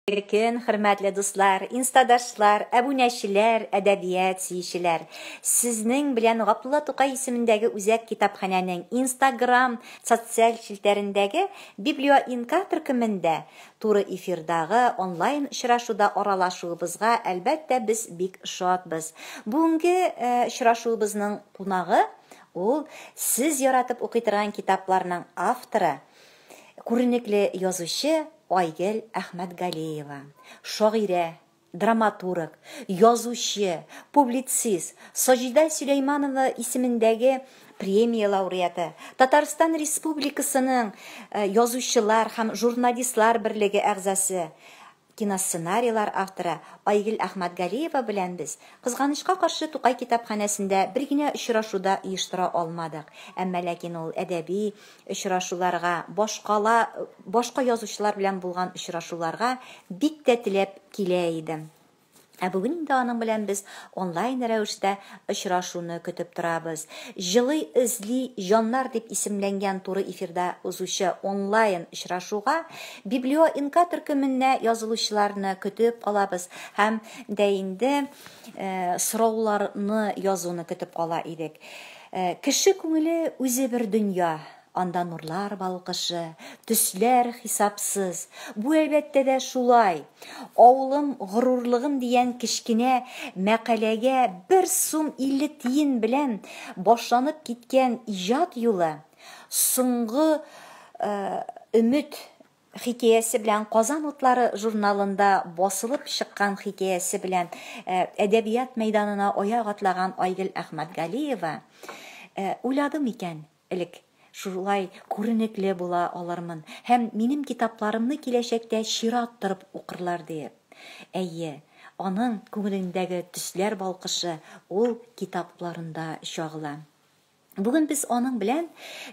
Иркен, хөрмәтле дуслар, инстадашлар, әбүнәчеләр, әдәбият сөючеләр! Сезнең белән Габдулла Тукай исемендәге үзәк китапханәнең Инстаграм социаль челтәрендәге Библиоинка төркемендә туры эфирдагы онлайн очрашуда аралашуыбызга, әлбәттә, без бик шатбыз. Бүгенге очрашуыбызның кунагы, ул Сез яратып укый торган китапларның авторы, Күренекле язучы Айгел Әхмәтгалиева, шагыйрә, драматург, язучы, публицист, Саҗидә Сөләйманова исемендәге премия лауреаты, Татарстан Республикасының Язучылар һәм журналистлар берлеге әгъзасы, Киносценарийлар авторы Айгөл Әхмәтгалиева белән без, кызганычка каршы, Тукай китапханәсендә бер генә очрашу да оештыра алмадык. Әмма ләкин ул әдәби очрашуларга, башкала башка язучылар белән булган очрашуларга бик тә теләп килә идем. Ә бүген инде аның белән без онлайн рәвештә очрашуны көтеп торабыз. Җылый эзли җаннар дип исемләнгән туры эфирда узучы онлайн очрашуга Библио-Инка төркеменә язылучыларны көтеп калабыз һәм дә инде сорауларны язуны көтеп кала идек. Кеше күңеле үзе бер дөнья, Анда нурлар балкышы, төсләр хисапсыз. Бу, әлбәттә дә, шулай. Авылым горурлыгым дигән кечкенә мәкаләгә бер сум илле тиен белән башланып киткән иҗат юлы Соңгы өмет хикәясе белән Казан утлары журналында басылып чыккан хикәясе белән әдәбият мәйданына аяк атлаган Айгөл Әхмәтгалиева, Уйладым икән, Элек шулай күренекле була алырмын һәм минем китапларымны киләчәктә чират торып укырлар диеп. Әйе, аның күңелендәге төсләр балкышы ул китапларында чагыла. Бүген без аның белән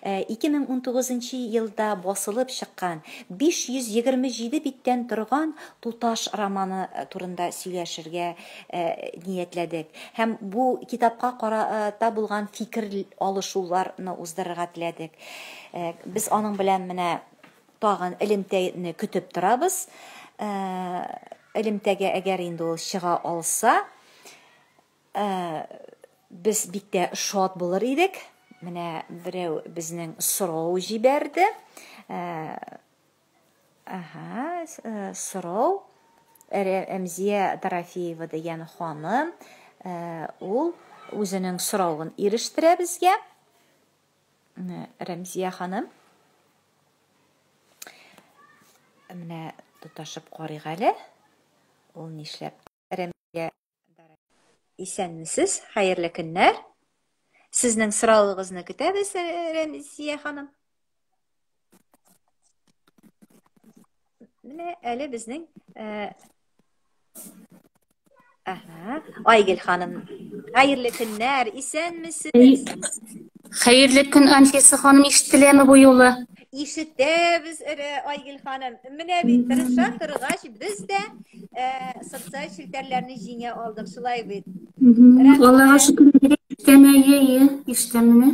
2019 нчы елда басылып чыккан 527 биттән торган Туташ романы турында сөйләшергә Э, ниятләдек һәм бу китапка карата булган фикер алышуларны уздырырга теләдек э, без аның белән менә тагын элемтәне көтеп торабыз э, элемтәгә әгәр инде ул чыга алса без бик тә шат булыр идек менә берәү безнең сорау җибәрде Әһә, э, сорау. Рә- Рәмзия Дорофеева дигән ханым, э, ул үзенең соравын ирештерә безгә. Менә Рәмзия ханым. Менә тоташып карыйк әле. Ул нишләп Рәмилә Исәнмесез, хәерле көннәр. Сезнең сорауыгызны көтәбез, Рәмзия ханым. Менә әле безнең э, Ага. Айгел ханым, хәерле көннәр, исәнмесез? Хәерле көн, Анфиса ханым, ишетеләме бу юлы? Ишетәбез, эре Айгел ханым. Менә бит тырыша торгач, без дә э, социаль челтәрләрне җиңә алдык, шулай бит. Аллага шөкер, ишетәме, ие, ие, ишетәмени?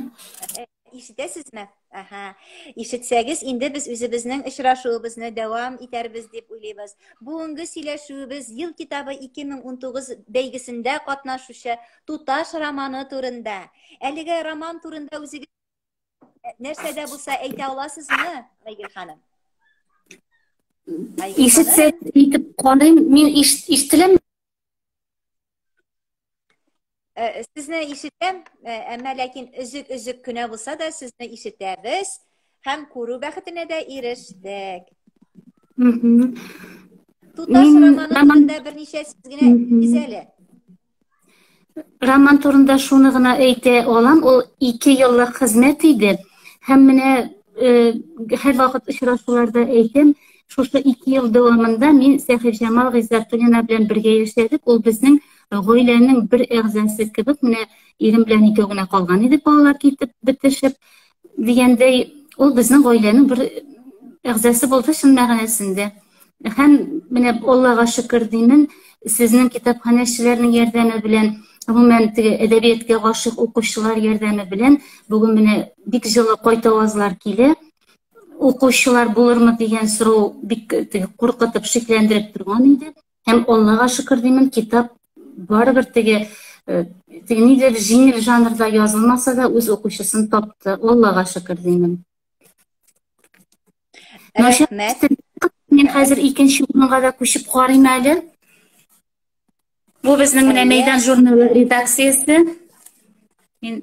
Э, ишетәсезме? Аһа. Ишетсәгез, инде без үзебезнең очрашуыбызны дәвам итәрбез дип уйлыйбыз. Бүгенге сөйләшүебез Ел китабы 2019 бәйгесендә катнашучы Туташ романы турында. Әлеге роман турында үзегез нәрсә дә булса әйтә аласызмы, Айгөл ханым? Ишетсә итеп карыйм, мин ишетеләм. Э, сезне ишетәм, э, әмма ләкин өзек-өзек кенә булса да сезне ишетәбез һәм күрү бәхетенә дә ирештек. Туташ романы турында берничә сүз генә әйтегез әле. Роман турында шуны гына әйтә алам, ул ике еллык хезмәт иде. Һәм менә э, һәр вакыт очрашуларда әйтәм, шушы ике ел дәвамында мин Сәхибҗамал Гыйззәтуллина белән бергә яшәдек. Ул безнең гаиләнең бер әгъзасы кебек, менә ирем белән икәү генә калган идек балалар китеп бетешеп. дигәндәй ул безнең гаиләнең бер әгъзасы булды чын мәгънәсендә һәм менә аллага шөкер димин сезнең китапханәчеләрнең ярдәме белән гомумән теге әдәбиятка гашыйк укучылар ярдәме белән бүген менә бик җылы кайт авазлар килә укучылар булырмы дигән сорау бик куркытып шикләндереп торган иде Һәм Аллага шөкер димим, китап барыбер теге э, теге нидер җиңел жанрда язылмаса да үз укучысын тапты. Аллага шөкер димим. Рәхмәт. Мин хәзер икенче урынга да күчеп карыйм әле. Бу безнең менә мәйдан журналы редакциясе. Мин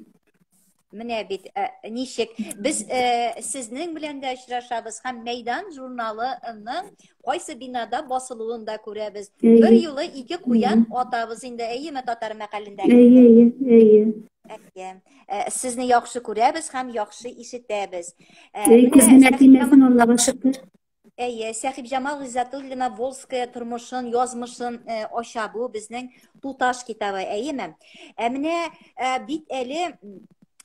Менә бит э, ничек без э, сезнең белән дә очрашабыз һәм Мәйдан журналының кайсы бинада басылуын да күрәбез. Бер юлы ике куян атабыз инде, әйеме татар мәкалендә. Әйе, әйе. Әйе. Э, сезне яхшы күрәбез һәм яхшы ишетәбез. Э, Менә Аллага шөкер. Әйе, Сәхибҗамал Гыйззәтуллина Волская тормышын, язмышын э, ача бу безнең туташ китабы, әйеме? Ә менә э, бит әле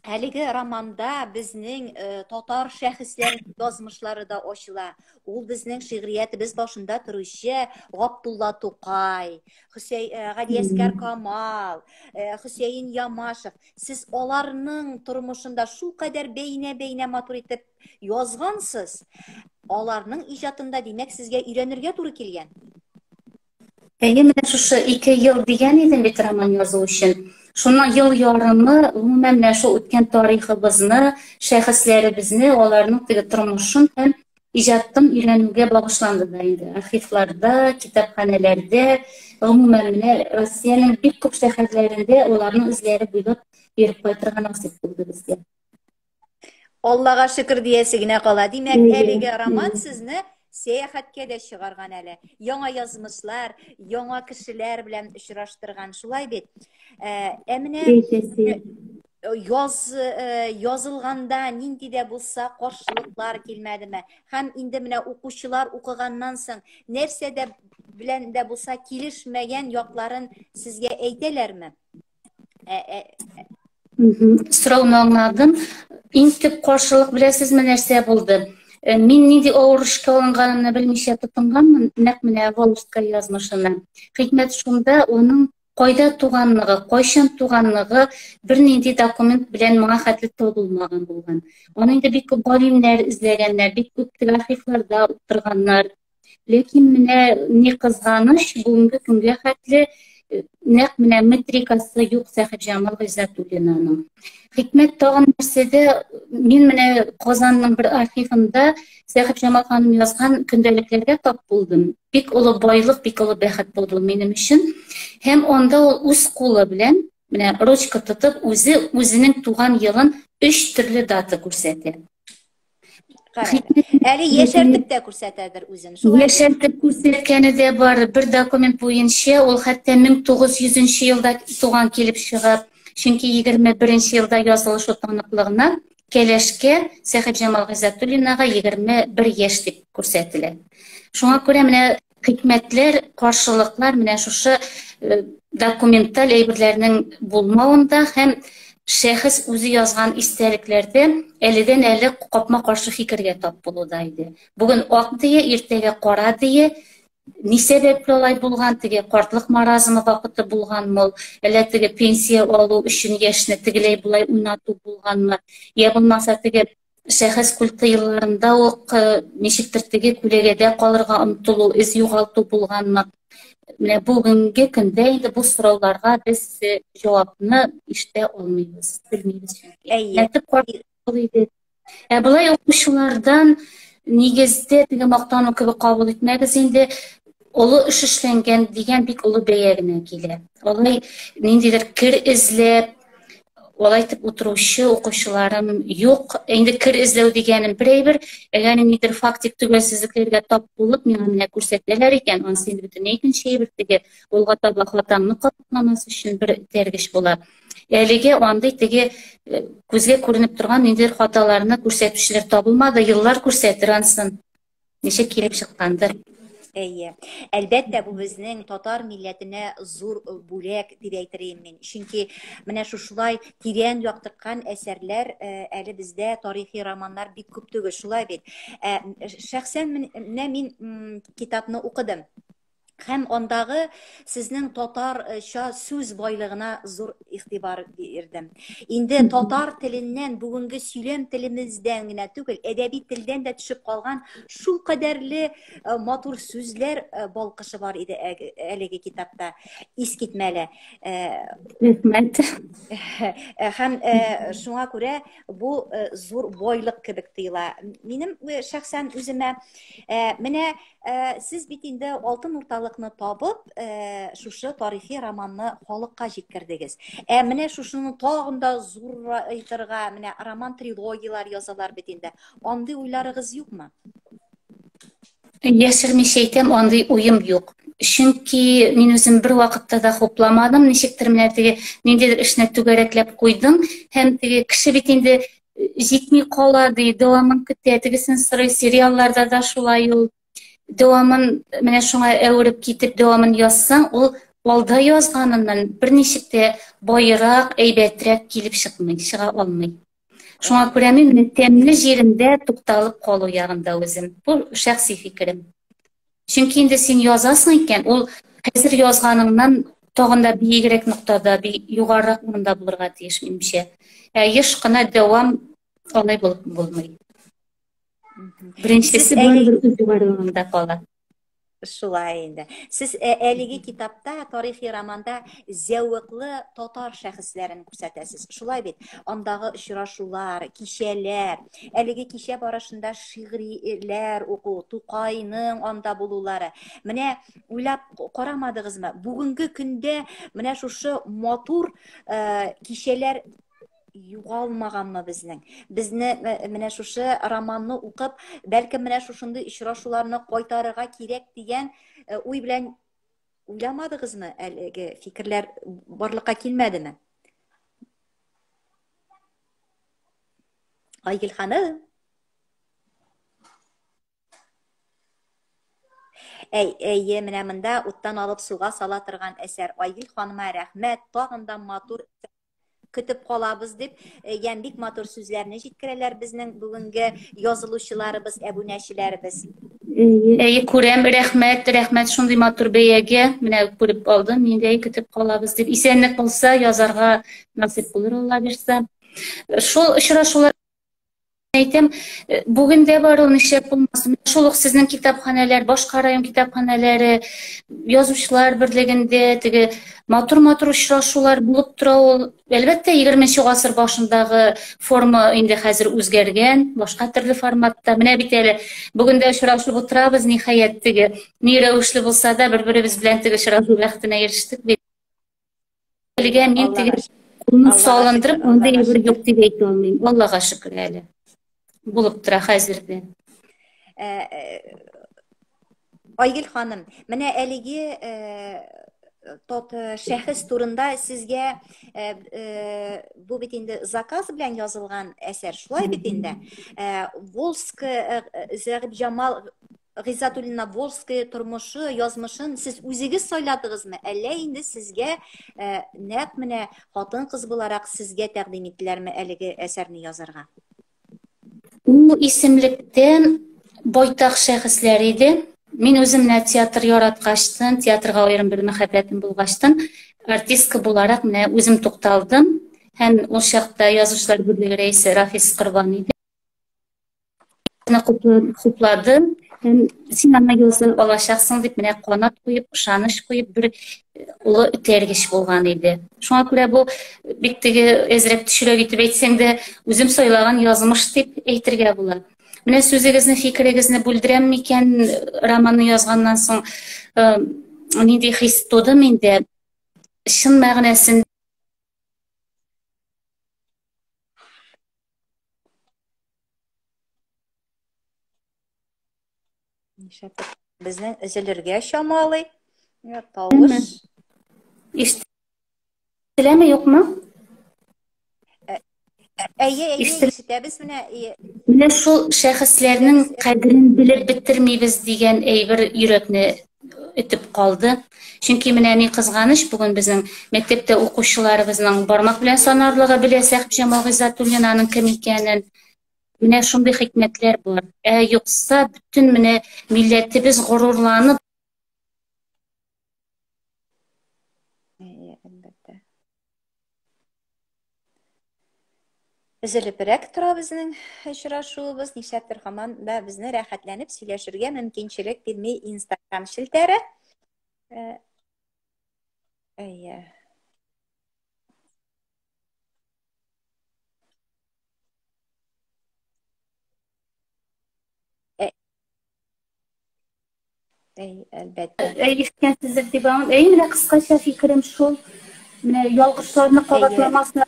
әлеге романда безнең э, татар шәхесләр язмышлары да ачыла. Ул безнең шигъриятебез башында торучы Габдулла Тукай, Хөсәй э, Гадиәскәр Камал, э, Хөсәен Ямашев. Сез аларның тормышында шул кадәр бәйнә-бәйнә матур итеп язгансыз. Аларның иҗатында, димәк, сезгә өйрәнергә туры килгән. Әйе, менә шушы 2 ел дигән идем бит роман язу өчен. Шуннан ел ярымы гомумән менә шул үткән тарихыбызны, шәхесләребезне, аларның теге тормышын һәм иҗатын өйрәнүгә багышланды да инде. Архивларда, китапханәләрдә, гомумән менә Россиянең бик күп шәһәрләрендә аларның эзләре буйлап йөреп кайтырга насыйп булды безгә. Аллага шөкер диясе генә кала. Димәк, әлеге роман сезне сәяхәткә дә чыгарган әле. Яңа язмышлар, яңа кешеләр белән очраштырган. Шулай бит. Ә, ә менә яз э, язылганда нинди дә булса каршылыклар килмәдеме һәм инде менә укучылар укыганнан соң нәрсә дә белән дә булса килешмәгән якларын сезгә әйтәләрме Ә, ә, Сорауны аңладым. Иң төп каршылык беләсезме нәрсә булды? Э, мин нинди авыр эшкә алынганымны белмичә тотынганмын, нәкъ менә Волжская язмышына. Хикмәт шунда, оның кайда туганлыгы, кайчан туганлыгы бернинди документ белән моңа хәтле табылмаган булган. Аны инде бик күп галимнәр эзләгәннәр, бик күп архивларда утырганнар. Ләкин менә ни кызганыч, бүгенге көнгә хәтле э, нәкъ менә метрикасы юк Сәхибҗамал Гыйззәтуллинаның. Хикмәт тагын нәрсәдә? Мин менә Казанның бер архивында Сәхибҗамал ханым язган көндәлекләргә тап булдым. Бик олы байлык, бик олы бәхет булды минем өчен. Һәм анда ул үз кулы белән менә ручка тотып, үзе үзенең туган елын өч төрле дата күрсәтә. Әле яшәртеп тә күрсәтәдер үзен. Яшәртеп күрсәткәне дә бар. Бер документ буенча ул хәтта 1900 елда туган килеп чыга. Чөнки 21 елда язылышу таныклыгына Кәләшкә Сәхибҗамал Гыйззәтуллинага 21 яшь дип күрсәтелә. Шуңа күрә менә хикмәтләр, каршылыклар менә шушы э, документаль әйберләрнең булмавында һәм шәхес үзе язган истәлекләрдә әледән әле капма каршы фикергә тап булуда иде. Бүген ак дия, иртәгә кара дия, ни сәбәпле алай булган, теге картлык маразымы вакыты булганмы, әллә теге пенсия алу өчен яшьне тегеләй болай уйнату булганмы, я булмаса теге шәхес культы елларында ук э, ничектер теге күләгәдә калырга омтылу, эз югалту булганмы? Менә бүгенге көндә инде бу сорауларга без э, җавапны ишетә алмыйбыз, белмибез чөнки. Әйе. Ә Ә болай укучылардан нигездә теге мактану кебек кабул итмәгез инде олы эш эшләнгән дигән бик олы бәя генә килә. Алай ниндидер кер эзләп, алай итеп утыручы укучыларым юк. Инде кер эзләү дигәнем бер әйбер, әгәр ниндидер фактик төгәлсезлекләргә тап булып, миңа менә күрсәтәләр икән, анысы инде бөтенләй икенче әйбер теге юлга таба хатамны катламас өчен бер этәргеч була. Әлеге андый теге э, күзгә күренеп торган ниндидер хаталарны күрсәтүчеләр табылмады, еллар күрсәтер ансын. ничек килеп чыккандыр Әйе. Әлбәттә, бу безнең татар милләтенә зур бүләк дип әйтер идем мин. Чөнки менә шушылай тирән яктырткан әсәрләр э, әле бездә тарихи романнар бик күп түгел, шулай бит. Э, шәхсән менә мин китапны укыдым. һәм андагы сезнең татарча сүз байлыгына зур игътибар бирдем. Инде татар теленнән бүгенге сөйләм телемездән генә түгел, әдәби телдән дә төшеп калган шул кадәрле э, матур сүзләр э, балкышы бар иде әлеге китапта. Искитмәле. Э, Рәхмәт. Һәм шуңа күрә бу зур байлык кебек тоела. Минем шәхсән үземә менә Э, сез бит инде алтын урталыкны табып э, шушы тарихи романны халыкка җиткердегез ә менә шушыны тагын да зурайтырга менә роман трилогияләр язалар бит инде андый уйларыгыз юкмы яшермичә әйтәм андый уем юк чөнки мин үзем бер вакытта да хупламадым ничектер менә теге ниндидер эшне түгәрәкләп куйдым һәм теге кеше бит инде җитми кала ди дәвамын көтә тегесен сорый сериалларда да шулай ул дәвамын менә шуңа әвереп китеп дәвамын язсаң ул алда язганыннан берничек тә баерак әйбәтрәк килеп чыкмый чыга алмый шуңа күрә мин тәмле җирендә тукталып калу ягында үзем бу шәхси фикерем Чөнки инде син язасың икән, ул хәзер язганыңнан тагын да биегрәк ноктада, би югарырак урында булырга тиеш, минемчә. Ә еш кына дәвам алай булып булмый. Беренчесе барыбер үз югарылыгында кала. Шулай инде. Сез э, әлеге китапта, тарихи романда зәвыклы татар шәхесләрен күрсәтәсез. Шулай бит. Андагы очрашулар, кичәләр, Әлеге кичә барышында шигырьләр уку, Тукайның анда булулары. Менә уйлап карамадыгызмы? Бүгенге көндә менә шушы матур э, кичәләр югалмаганмы безнең безне э, менә шушы романны укып бәлкем менә шушындый очрашуларны кайтарырга кирәк дигән э, уй белән уйламадыгызмы әлеге фикерләр барлыкка килмәдеме Айгөл ханым. Әй, әйе, менә монда уттан алып суга сала торган әсәр. Айгөл ханыма рәхмәт, тагын да матур көтеп калабыз дип, э, ям бик матур сүзләрне җиткерәләр безнең бүгенге язылучыларыбыз, әбүнәчеләребез. Әйе, күрәм, рәхмәт, рәхмәт шундый матур бәягә. Менә күреп алдым, нидәй көтеп калабыз дип. Исәнлек булса, язарга насыйп булыр, Алла бирсә. Шул очрашулар әйтәм, э, бүген дә бар ул нишләп булмасын. Шул ук сезнең китапханәләр, башка район китапханәләре, язучылар берлегендә теге матур-матур очрашулар булып тора ул. Әлбәттә, 20 гасыр башындагы форма инде хәзер үзгәргән, башка төрле форматта. Менә бит әле бүген дә очрашып утырабыз, ниһаять теге ни рәвешле булса да бер-беребез белән теге очрашу бәхетенә ирештек бит. Белгән мин теге ун салындырып, монда ибер юк дип әйтә алмыйм. Аллага шөкер әле. Булып тора хәзердә. Э, э, Айгөл ханым, менә әлеге э, тот шәхес турында сезгә бу бит инде заказ белән язылган әсәр, шулай бит инде. Волск Зәгып Җамал Гыйззатуллина Волжская тормышы, язмышын сез үзегез сайладыгызмы, әллә инде сезгә э, нәкъ менә хатын-кыз буларак сезгә тәкъдим иттеләрме әлеге әсәрне язарга? Ул исемлектән байтак шәхесләр иде. Мин үзем менә театр яраткачтын, театрга аерым бер мәхәббәтем булгачтын, артистка буларак менә үзем тукталдым. Һәм ул чакта язучылар берлеге рәисе Рафис Корбан иде. хуплады һәм син аңа юлсын алачаксың дип менә канат куеп ышаныч куеп бер э, олы этәргеч булган иде шуңа күрә бу бик теге әзрәк төшерәк итеп әйтсәң дә үзем сайлаган язмыш дип әйтергә була менә сүзегезне фикерегезне бүлдерәм микән романны язганнан соң э, нинди хис туды миндә чын мәгънәсендә Нишләптер безнең өзелергә чамалый. Йә, тавыш. Ишетеләме, юкмы? Ә- ә- Әйе, әйе, Ишетел- ишетәбез менә. и- Менә шул шәхесләрнең кадерен белеп бетермибез дигән әйбер йөрәкне үтеп калды. Чөнки менә ни кызганыч, бүген безнең мәктәптә укучыларыбызның бармак белән санарлыгы белә Сәхибҗан Малгыйзатуллинаның кем икәнен. Менә шундый хикмәтләр бар. Ә юкса, бөтен менә милләтебез горурланып Өзелебрәк тора безнең очрашуыбыз, нишләптер хаман да безне рәхәтләнеп сөйләшергә мөмкинчелек бирми Instagram челтәре. Э, әйе. Э, Әй, әлбәттә. Әй, ишеткәнсездер дип аңлам. Әй, менә кыскача фикерем шул. Менә ялгышларны кабатламасын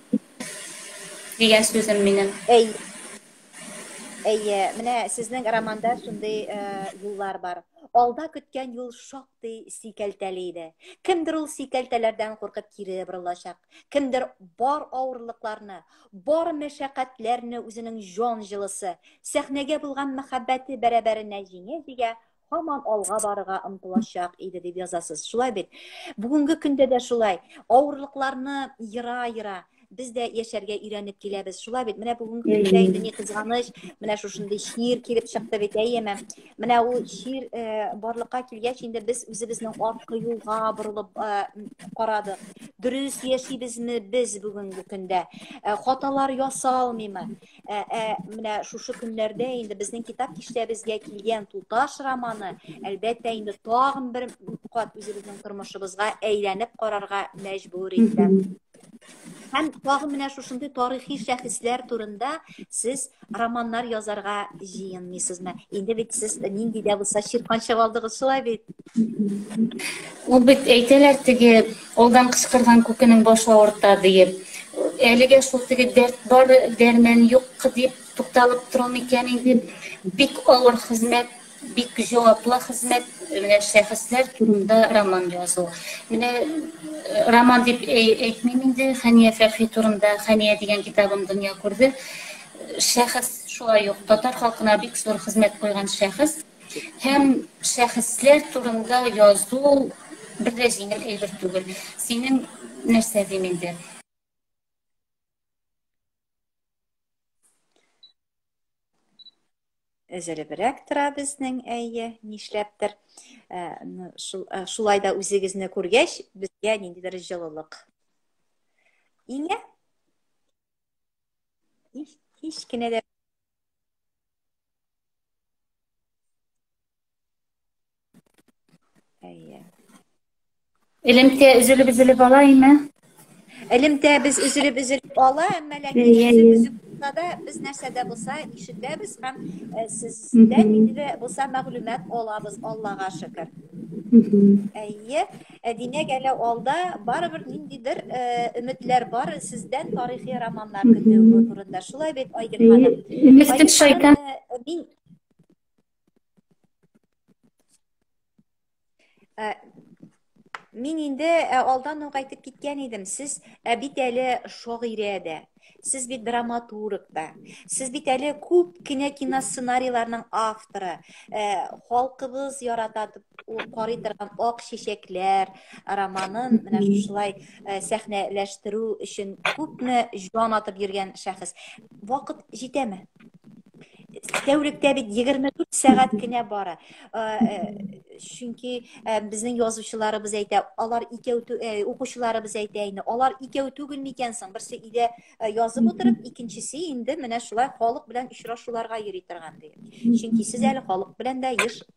дигән сүзем минем. Әй. Әйе, менә сезнең романда шундый э, юллар бар. Алда көткән юл шактый сикәлтәле иде. Кемдер ул сикәлтәләрдән куркып кире борылачак, кемдер бар авырлыкларны, Бар мәшәкатьләрне үзенең җан җылысы, сәхнәгә булган мәхәббәте бәрабәренә җиңә-җигә, һаман алга барырга омтылачак иде дип язасыз. Шулай бит. Бүгенге көндә дә шулай. Авырлыкларны ера-ера без дә яшәргә өйрәнеп киләбез. Шулай бит. Менә бүгенге көндә инде ни кызганыч, менә шушындый чир килеп чыкты бит, әйеме? Менә ул чир э, барлыкка килгәч, инде без үзебезнең арткы юлга борылып э, карадык. Дөрес яшибезме без бүгенге көндә? Э, хаталар ясалмыймы? Менә шушы көннәрдә инде безнең китап киштәбезгә килгән туташ романы, әлбәттә, инде тагын бер кат үзебезнең тормышыбызга әйләнеп карарга мәҗбүр итә. Һәм тагын менә шушындый тарихи шәхесләр турында сез романнар язарга җыенмыйсызмы? Инде бит сез нинди дә булса чиркан чаба алдыгыз, шулай бит? Ул бит әйтәләр теге алдан кычкырган күкенең башы авырта диеп. Әлегә шул теге дәрт бар, дәрмән юк дип тукталып тору микән инде? Бик авыр хезмәт Бик җаваплы хезмәт, менә шәхесләр турында роман язу. Менә роман дип әйтмим инде, Хәния Фәрхи турында Хәния дигән китабым дөнья күрде. Шәхес шулай ук татар халкына бик зур хезмәт куйган шәхес. Һәм шәхесләр турында язу бер дә җиңел әйбер түгел. Синең нәрсә дим инде? өзелебрәк тора безнең әйе нишләптер э, э, шулай да үзегезне күргәч безгә ниндидер җылылык иңә һич кенә дә Әйе. Элемтә өзелеп өзелеп ала име? Элемтә без өзелеп өзелеп ала, әмма ләкин өзелеп өзеп булса да без нәрсәдә булса ишетәбез һәм э, сездән инде дә булса мәгълүмат алабыз, Аллага шөкер. Әйе. Ә димәк, әле алда барыбер ниндидер э, өметләр бар сездән тарихи романнар көтүе турында. Шулай бит, Айгөл ханым? Мистер Шайтан. Э, мин э, Мин инде алдан ук әйтеп киткән идем, сез бит әле шагыйрә дә, Сез бит драматург да. Сез бит әле күп кенә киносценарийларның авторы. Э, халкыбыз ярата карый торган Ак чәчәкләр романын менә шулай э, сәхнәләштерү өчен күпме җан атып йөргән шәхес. Вакыт җитәме? тәүлектә бит 24 сәгать кенә бара. Чөнки безнең язучыларыбыз әйтә, алар икәү укучыларыбыз әйтә инде, алар икәү түгел микән соң? Берсе илә язып утырып, икенчесе инде менә шулай халык белән очрашуларга йөри торган ди. Чөнки сез әле халык белән дә еш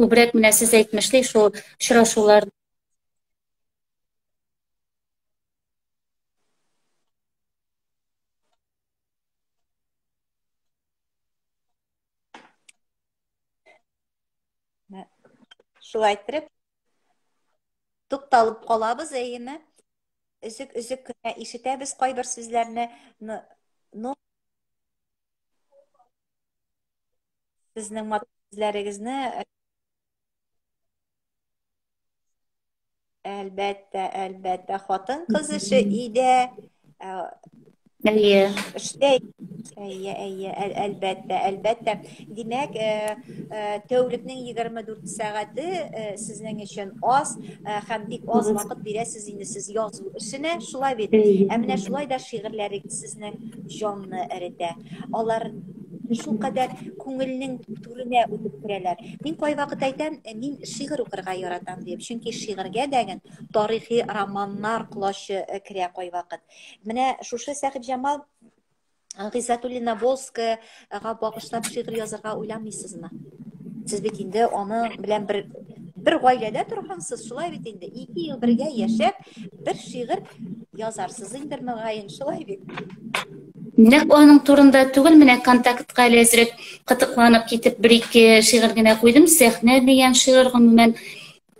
Күбрәк менә сез әйтмешли шул очрашулар Шулай иттереп тукталып калабыз, әйеме? Үзек үзек кенә ишетәбез кайбер сүзләрне. Ну, Сезнең матур сүзләрегезне Әлбәттә, әлбәттә, хатын кыз эше өйдә Әйе. Эштә әйе, әйе, әлбәттә, әлбәттә. Димәк, тәүлекнең 24 сәгате сезнең өчен аз һәм бик аз вакыт бирәсез инде сез язу эшенә, шулай бит. Ә менә шулай да шигырьләрегез кешенең җанны эретә. Алар шул кадәр күңелнең түренә үтеп керәләр. Мин кайвакыт әйтәм, «Э, мин шигырь укырга яратам дип, чөнки шигырьгә дәген тарихи романнар колачы э, керә кайвакыт. Менә шушы Сәхибҗамал Гыйззәтуллина Волская Ага багышлап шигырь язарга уйламыйсызмы? Сез бит инде аны белән бер бер гаиләдә торгансыз, шулай бит инде. Ике ел бергә яшәп, бер шигырь язарсыз инде мөгаен, шулай бит. Нәк аның турында түгел, менә контактка әле әзрәк кытыкланып китеп, бер-ике шигырь генә куйдым. Сәхнә дигән шигырь гомумән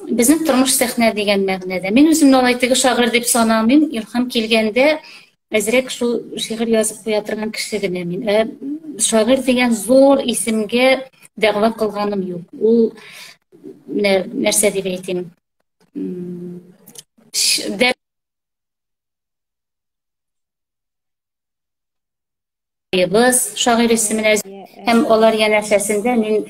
безнең тормыш сәхнә дигән мәгънәдә. Мин үземне алай теге шагыйрь дип санамыйм. Илһам килгәндә әзрәк шул шигырь язып куя торган кеше генә мин. Ә шагыйрь дигән зур исемгә дәгъва кылганым юк. Ул нәрсә дип әйтим? Быз, шагыйрь исеменә һәм алар янәшәсендә мин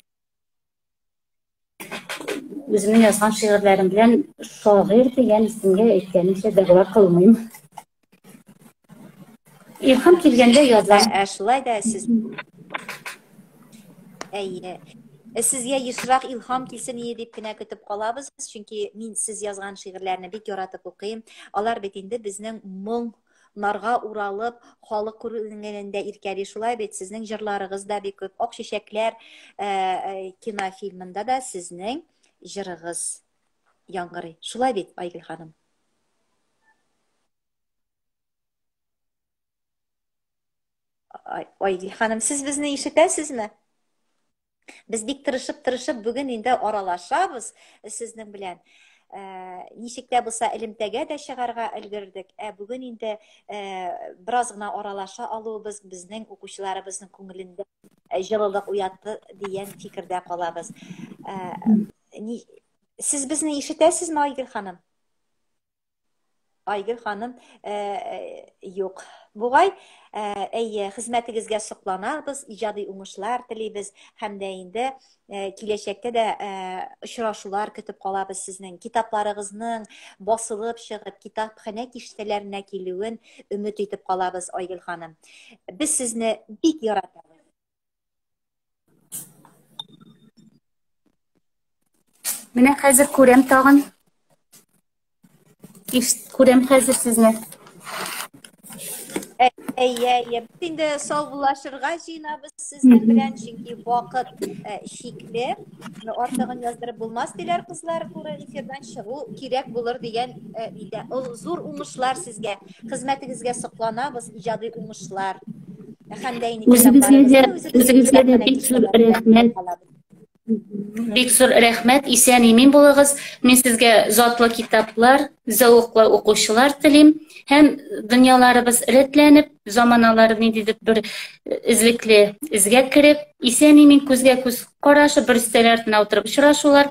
үземнең язган шигырьләрем белән шагыйрь дигән исемгә әйткәнемчә дәгъва кылмыйм. Илһам килгәндә язам. Ә шулай да сез Әйе. Э, сезгә ешрак илһам килсен ие дип кенә көтеп калабыз чөнки мин сез язган шигырьләрне бик яратып укыйм алар бит инде безнең моң Нарга уралып, халык күренгәнендә иркәли. Шулай бит, сезнең җырларыгыз да бик күп. Ак чәчәкләр э, э, кинофильмында да сезнең җырыгыз яңгырый. Шулай бит, Айгөл ханым? Айгөл ханым, сез безне ишетәсезме? Без бик тырышып-тырышып бүген инде аралашабыз сезнең белән. Ә, ничек тә булса элемтәгә дә чыгарга өлгердек. Ә бүген инде ә, бераз гына аралаша алуыбыз безнең укучыларыбызның күңелендә җылылык уятты дигән фикердә калабыз. Ә, ни, сез безне ишетәсезме, Айгөл ханым? Айгөл ханым, э, э, юк. Бугай, э, әйе, хезмәтегезгә сокланабыз, иҗади уңышлар телибез һәм дә инде киләчәктә дә очрашулар көтеп калабыз сезнең. Китапларыгызның басылып чыгып, китапханә киштәләренә килүен өмет итеп калабыз, Айгөл ханым. Без сезне бик яратабыз. Менә хәзер күрәм тагын. Иш, күрәм хәзер сезне. Әйе, әйе. Инде саубуллашырга җыенабыз сезнең белән, чөнки вакыт э, шикле. Артыгын яздырып булмас диләр кызлар, туры эфирдан чыгу кирәк булыр дигән э, идә. Ул зур уңышлар сезгә. Хезмәтегезгә сокланабыз, иҗади уңышлар. Үзегезгә дә бик зур рәхмәт. Бик зур рәхмәт, исән имин булыгыз. Мин сезгә затлы китаплар, зәвыклы укучылар телим һәм дөньяларыбыз рәтләнеп, заманалары ниндидер бер эзлекле эзгә кереп, исән имин күзгә күз карашып, бер өстәл артына утырып очрашулар,